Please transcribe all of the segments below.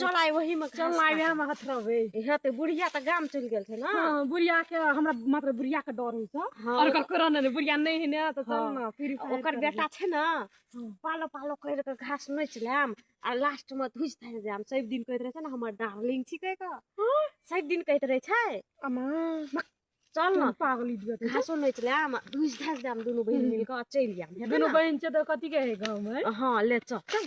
चल आइ वही में चल आइ वही में हथ रहबे इहे ते बुढ़िया त गाम चल गेल छै ना हां बुढ़िया के हमरा मात्र बुढ़िया के डर होय छै हाँ। और ओकर कोरोना ने बुढ़िया नै है ना त चल ना फिर ओकर बेटा छै ना हाँ। पालो पालो कर के घास नोच लेम आ लास्ट में धुज धर जाम सब दिन कहत रहे छै ना हमर डार्लिंग छी कह के हाँ। सब दिन कहत रहे छै अमा चल ना पागली दिया घासो नोच लेम धुज धर जाम दोनों बहन मिल के चल जाम दोनों बहन छै त कथि कहे गांव में हां ले चल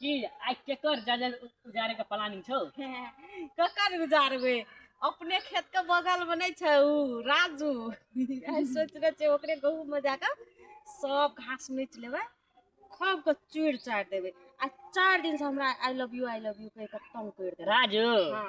कि आइ केकर जजल उजारे के प्लानिंग छौ ककर उजारबे अपने खेत के बगल में नहीं छे उ राजू आइ सोच रहे छे ओकरे गहूम में जाकर सब घास नोच लेबे खूब के चूड़ चाट देबे आ चार दिन से हमरा I love you I love you कह के तंग कर देबे राजू हाँ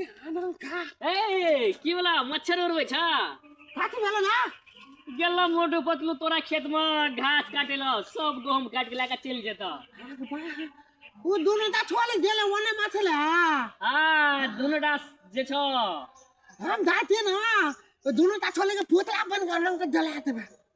ए की वाला मच्छर उड़बै छ काटी भेल ना गेलौ मोटू पतलू तोरा खेत में घास काटे ल सब गहूम काट के लाके चल जेता ओ दोनों ता छोड़ गेल ओने माछे ले हां दोनों ता जे छ हम जाते ना दोनों ता छोड़ के पोतला बन कर लंग के जला देबे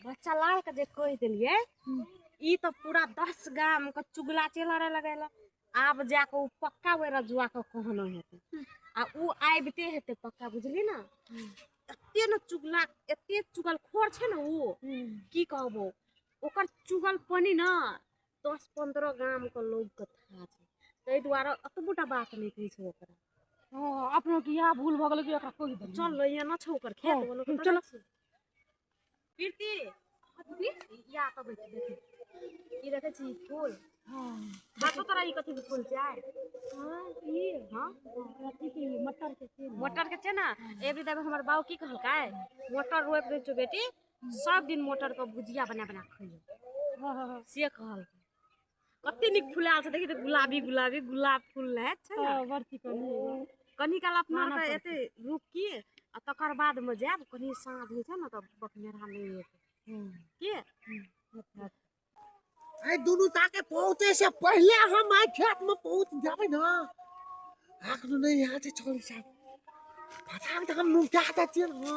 बच्चा लाल के जे कह दिलिए ई तो पूरा दस गाम के चुगला चेला रहे लगेला आब जाके ओ पक्का वे रजुआ के कहना हेतै आ ओ आबिते हेतै पक्का बुझली ना एते ने चुगला एते चुगल खोर छै ने ओ की कहबो ओकर चुगल पानी ना दस पंद्रह गाम के लोग के था छै ताहि दुआरे अतबोटा बात नहि कहै छै ओकरा अपनो के इएह भूल भऽ गेलै कि एकरा कहि देलियै चल लै एना छै ओकर खेत हँ, बोलो चलो। कीर्ति या तऽ बैठ ई देखै छी फूल हँ देखो तोरा ई कथी के फूल छै हँ ई हँ अथी के मटर के छै मटर के छै ना एबरी देवे हमर बाऊ की कहलकै मटर रोप दे छो बेटी सब दिन मटर के भुजिया बना बना खइयो से कहलकै कते नीक फुलायल छै देखी तऽ गुलाबी गुलाबी गुलाब फूल रहै छै ने बड़ चिकन कनी काल अपना आरके एते रुकी आ तकर बादमे जायब कनी साँझ होइ छै ने तऽ बकनेरा नहि एतै की एहि दुनू ताके पहुँचे से पहिले हम आइ खेतमे पहुँच जेबै ने आखिर नहि यहाँ छै छोरी साहब पता तऽ हम नुका दै छियै ने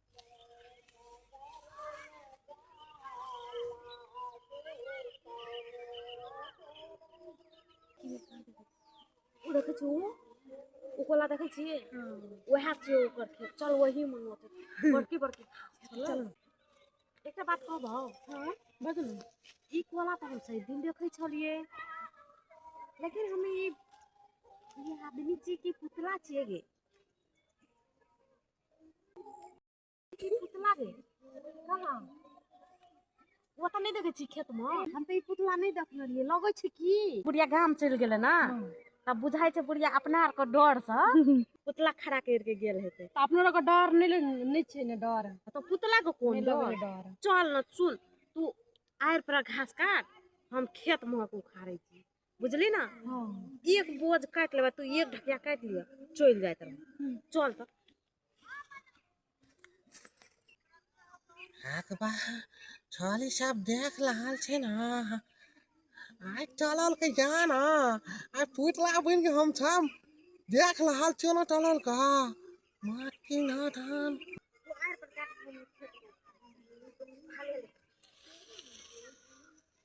देखै छी ओ कोला देखै छी वएह छियै ओकर खेत चल वही मन होतै बड़की बड़की चल एकटा बात कहब हँ बदल ई कोला तऽ हम सही दिन देखै छलियै लेकिन हम ई आदमी छियै कि पुतला छियै गे पुतला रे कहाँ ओ तऽ नहि देखै छी खेतमे हम तऽ ई पुतला नहि देखने रहियै लगै छै की बुढ़िया गाम चलि गेलै ने तब बुझाइ छै बुढ़िया अपना आरके डरसँ पुतला खड़ा करिके गेल हेतै तऽ अपनो आरके डर नहि ले- नहि छै ने डर तऽ पुतलाके कोन नहि लगै डर डर चल ने सुन तू आड़ि पर घास काट हम खेत महक उखाड़ै छी बुझली ने हँ एक बोझ काटि लेबै तू एक ढकिया काटि लिअ चलि जाइत रह चल तऽ हाथ बा छाली सब देख रहल छै ने आइ टलल के जान आइ पुतला बनि के हम सब देख रहल छियो ने टलल का मात की ना धान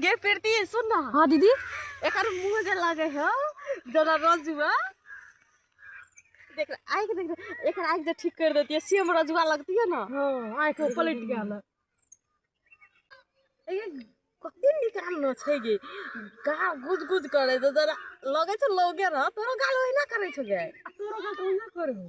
गे प्रीति सुन ना हाँ दीदी एकर मुंह जे लागे है जरा रजुआ देख आँख देख एक आँख जे ठीक कर देती है सेम रजुआ लगती है ना हाँ आँख पलट गया ना कते निकाल न छै गे गाल गुज गुज करे तो जरा लगे छै लोगे ना तोरो गाल ओहिना करे छै गे तोरो गाल ओहिना करबो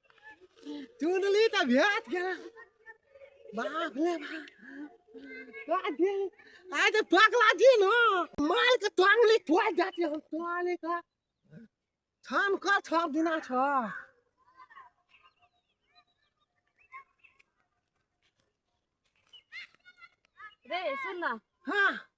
चुनली तऽ भेट गेला बाप रे बाप आइ तऽ पकला जी न माल के टांगली टोल जाती हम टोले का छाम का छाम दिना छ रे सुन ना हाँ